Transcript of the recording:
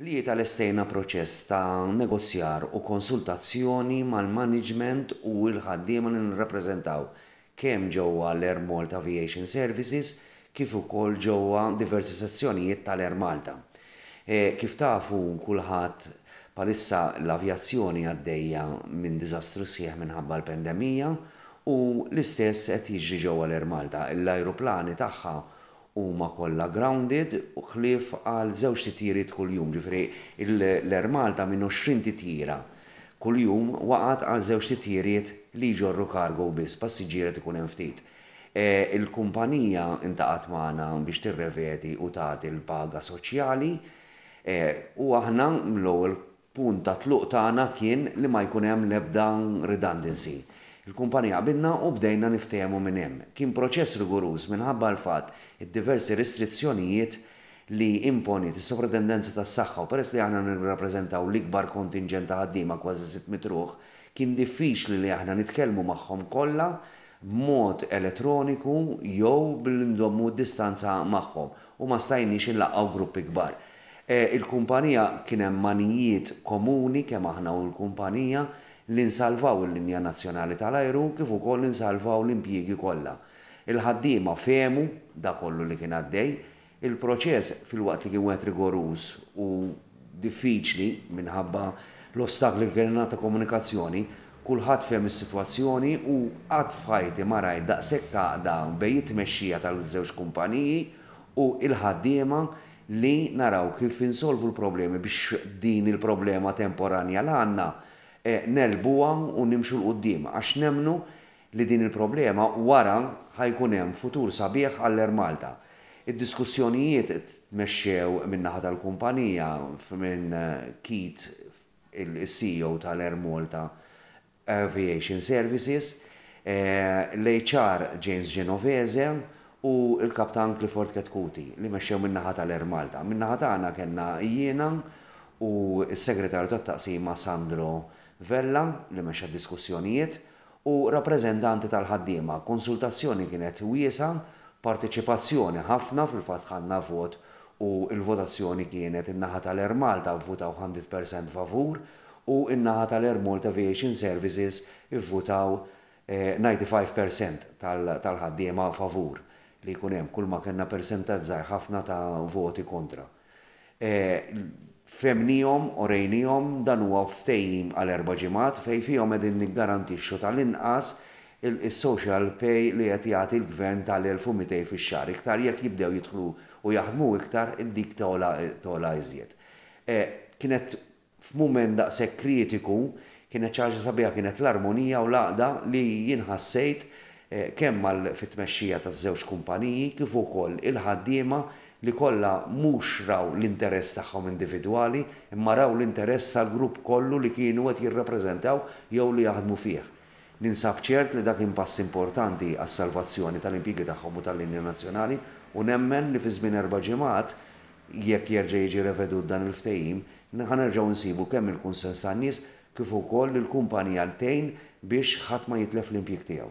Tlieta Lestejna proċess ta' negozjar u konsultazzjoni mal-maniġment u l-ħaddiema li nirrappreżentaw, kemm ġewwa l-Air Malta Aviation Services kif ukoll ġewwa diversi sezzjonijiet tal-Air Malta. Kif tafu kulħadd, bħalissa l-avjazzjoni għaddejja minn diżastru sħiħ minħabba l-pandemija u l-istess qed jiġri ġewwa l-Air Malta. L-ajruplani tagħha Huma kollha grounded ħlief għal żewġ titjiriet kuljum, ġifieri l-Air Malta minn 20 titjira kuljum waqgħet għal żewġ titjiriet li jġorru cargo biss, passiġġier qed ikun hemm ftit. Il-kumpanija ltaqgħet magħna biex tirrevedi u tagħti l-paga soċjali u aħna mill-ewwel Punt ta' tluq tagħna kien li ma jkun hemm l-ebda redundancy. Il-kumpanija qbidna u bdejna niftehmu minn hemm. Kien proċess riguruż minħabba l-fatt id-diversi restrizzjonijiet li imponiet is-Sovratendenza tas-Saħħa u peress li aħna nirrappreżentaw l-ikbar kontinġent ta' ħaddiema kważi sitt mitt ruħ, kien diffiċli li aħna nitkellmu magħhom kollha b'mod elettroniku jew billi ndommu d-distanza magħhom u ma stajniex inlaqgħu gruppi kbar. Il-kumpanija kien hemm għanijiet komuni kemm aħna u l-kumpanija li nsalvaw il-linja nazzjonali tal-ajru kif ukoll li nsalvaw l-impjiegi kollha. Il-ħaddiema fehmu dak kollu li kien għaddej. Il-proċess filwaqt li kien wieħed rigoruż u diffiċli minħabba l-ostakli li kellna ta' komunikazzjoni, kulħadd fehem is-sitwazzjoni u qatt f'ħajti ma rajt daqshekk għaqda bejn it-tmexxija tal-żewġ kumpaniji u l-ħaddiema li naraw kif insolvu l-problemi biex din il-problema temporanja li għandna negħlbuha u nimxu 'l quddiem għax nemmnu li din il-problema wara ħa jkun hemm futur sabiħ għall-Air Malta. Id-diskussjonijiet tmexxew min-naħa tal-kumpanija minn Keith il-CEO tal-Air Malta Aviation Services, l-HR James Genovese u l-Kaptan Clifford Chetcuti li mexxew min-naħa tal-Air Malta. Min-naħa tagħna kellna jiena u s-Segretarju tat-Taqsima Sandro Vella li mexxa d-diskussjonijiet u rappreżentanti tal-ħaddiema. Konsultazzjoni kienet wiesgħa, parteċipazzjoni ħafna, fil-fatt ħadna vot u l-votazzjoni kienet in-naħa tal-Air Malta vvutaw ħandred persent favur u n-naħa tal-Air Malta Aviation Services ivvutaw 95 per cent tal-ħaddiema favur li jkun hemm, kulma kellna persentaġġ żgħir ħafna ta' voti kontra. Fehmnihom, orejnihom, dan huwa ftehim għal erba' ġimgħat fejn fihom qegħdin niggarantixxu tal-inqas is-social pay li qed jagħti l-Gvern tal-1,200 fix-xahar, iktar jekk jibdew jidħlu u jaħdmu iktar dik togħla iżjed. Kienet F'mument daqshekk kritiku, kienet xi ħaġa sabiħa, kienet l-armonija u l-għaqda li jien ħassejt kemm mal fit-tmexxija taż-żewġ kumpaniji kif ukoll il-ħaddiema li kollha mhux raw l-interess tagħhom individwali imma raw l-interess tal-grupp kollu li kienu qed jirrappreżentaw jew li jaħdmu fih. Ninsab ċert li dan kien pass importanti għas-salvazzjoni tal-impjiegi tagħhom u tal-linja nazzjonali u nemmen li fi żmien erba' ġimgħat, jekk jerġa' jiġi revedut dan il-ftehim, ħa nerġgħu nsibu kemm il-kunsens tan-nies kif ukoll li l-kumpanija tgħin biex ħadd ma jitlef l-impjieg tiegħu.